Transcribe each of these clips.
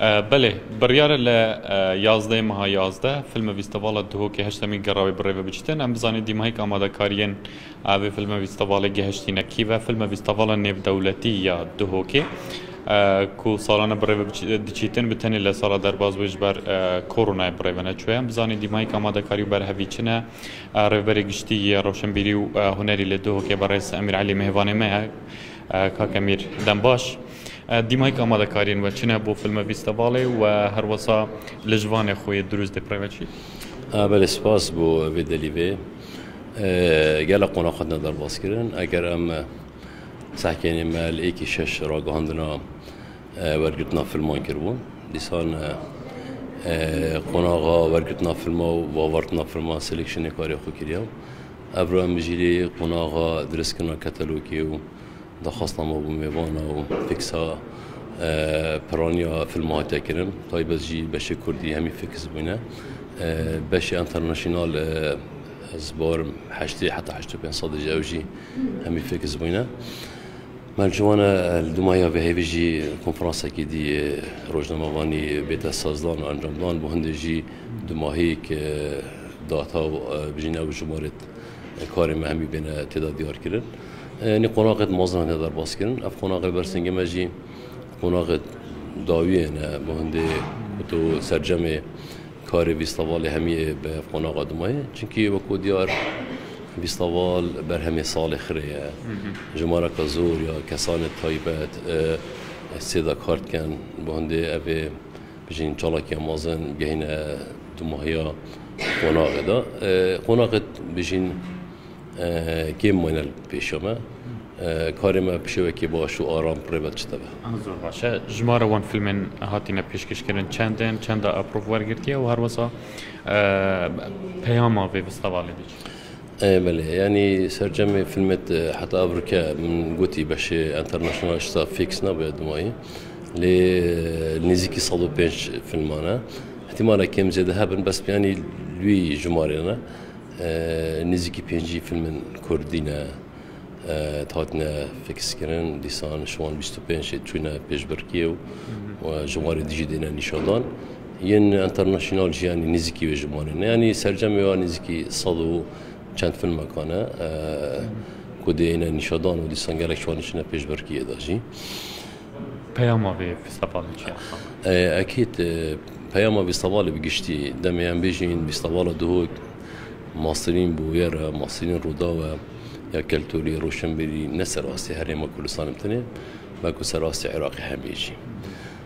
Belê, biryar e li yazdeyê meha yazdeh filme vîstevala Duhokê heştemîn gerawê bi rêve biçitin. Em bizanîn dîmahîk amadekariyên vê filme vîstevalê gihiştîne kî ve. Filme vîstevala nêvdewletî ya Duhokê ku salan e bi rêve diçîtin bi tenê li sala derbas wê ji ber koronayê bi rêve neçûye. Em bizanîn dîmahîk amadekarî û berhevî çi ne. Rêvberê giştî yê rewşenbîrî û hunerî li Duhokê berrêz Emîr Elî mêvanê me ye. Kak Emîr, dem baş. Dîmayîk amadekariyên we çi ne bo filme fîstevalê û we her wisa li jivanê xwe yê dirûst dê preve çi? Belê spas bo vê delî vê. Gelek qonax hatine derbaskirin. Eger em sehkênê me li êkî şeş ragihandina wergirtina filman kiribûn. Dîsan qonaxa wergirtina filma û vavartina filman seleksiyonê karê xwe kiriya. Evro em jî lê qonaxa direskirina ketelokê û Daxwaztnama bû mêvana û fîksa piraniya filma hatiye kirin. Taybet jî beşê Kurdî hemî fîks bûne. Beşê internasyonal ez barim heştê heta heşt û pênc sadê jî ew jî hemî fîks bûne. Mercivane li Dumaya vehêvî jî konferansekî dî rojnamevanî bête sazdan û encamdan bû hindê jî dumahîk data û bijîne ew jimarê Karê me hemî bêne têda diyarkirin. Nê qonaqê di mazinan têda derbas kirin. Ev qonaqê li ber singê me jî qonaqê dawiyê ne. Bi hindê tu sercemê karê vîstavalê hemî bi ev qonaxa dimayê. Çimkî wekû diyar vîstaval berhemê salê xirê ye. Jimareka zor ya kesanê taybet sêda kar dikin. Bi hindê evê Bijîn çalakiya mezin gehîne dumahiya qonaxê de. Qonaxê bijîn kêm mayne li pêşa me. Karê me bi şêwekê baş û aram rê ve diçite be. Zor baş e. Jimara wan filmên hatîne pêşkêşkirin çend in, çenda eprov wergirtiye û herwisa peyama vê festîvalê diçe? Ê belê yanî sercemê filmet heta avrike min gotî beşê international şta fix nabe dimayî lê nêzîkî sed û pênc filman e îhtîmala kêm zêde hebin bes yanî wî jimarê ne nêzîkî pêncî filmin kurdî ne hatine fixkirin dîsan şiwan bîst û pênc çûne pêşbirkî û jimarê dijî dêne nîşandan Yên enternasyonal jî yanî nêzîkî wê jimarê ne. Yanî sercemê wa nêzîkî sed û çend filmekan e ku dê hêne nîşedan û dîsan gelek çawa niçine pêşberkiyê de jî. Peyama vê fîstevalê çi ye? Ekîd peyama fîstevalê bi giştî demê em bêjîn fîstevala Duhok Masrîn bi wê re Masrîn Rûdaw e ya keltûrî roşenbîrî ne ser astê herêma Kurdistanê bi tenê belkû ser astê Iraqê hebe jî.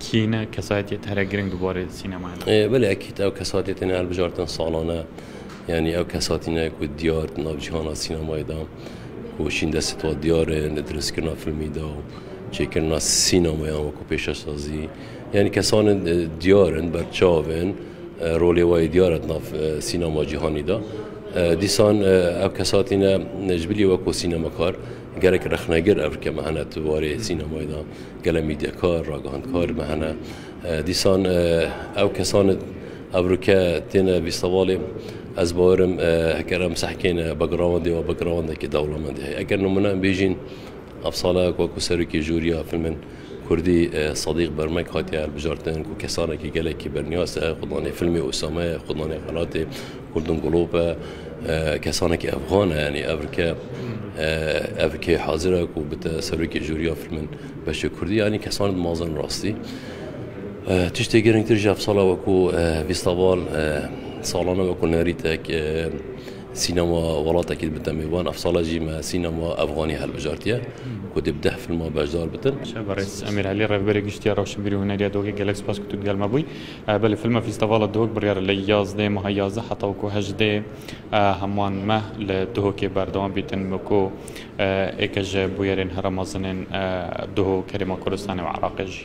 Kî ne kesayetiyê te here giring di barê sînemaya de? Belê ekîd ew kesatiyê tenê hilbijartin salan e. Yanî ew kesatî ne ku diyar di nav cîhana sînemayê de û şîn destê twa diyar e li dirêzkirina filmî de û çêkirina sînemayan wekû pêşesazî. Yanî kesan in diyar in, berçav in, rolê we yê diyar e di nav sînema cîhanî de. Dîsan ew kesatî ne ji bilî wekû sînemakar Gelek rexnegir ev ke me hene di warê sînemayê de, gelek mîdyakar, ragihandkar me hene. Dîsan ew kesan ev rûke têne bîstevalê ez bawerim eger em sehkêne backgroundê û backgroundekî dewlemendî heye. Eger nimune em bêjîn ev sala ku ku serokê jûriya filmên Kurdî Sedîq Bermek hatiye hilbijartin ku kesanekî gelekî berniyaz e xwe danê filmê Usame ye, xwe danê xelatê Golden Globe kesanekî evxan e yanî evrike evrikê hazir e ku bite serokê jûriya filmin beşê kurdî yanî kesan di mazin rastî tiştê girîngtir ji efsala we ku vîstaval salane we ku nerîtek sînema welatekî bite mêvan efsala jî me sînema evxanî helbijartiye ku dê bi deh filma beşdar bitin. Berêz Emîr Helî revberê giştî ya Rewşenbîrî Huneriya Dogê gelek spas ku tu digel me bûyî. Belê fîlma Fîstevala Duhok biryar e li yazdeh meha yazdeh heta ku hejdeh heman meh li Duhokê berdewam bîtin ku êke ji bûyerên herêma mezin ên Duhok, Herêma Kurdistanê û Iraqê jî.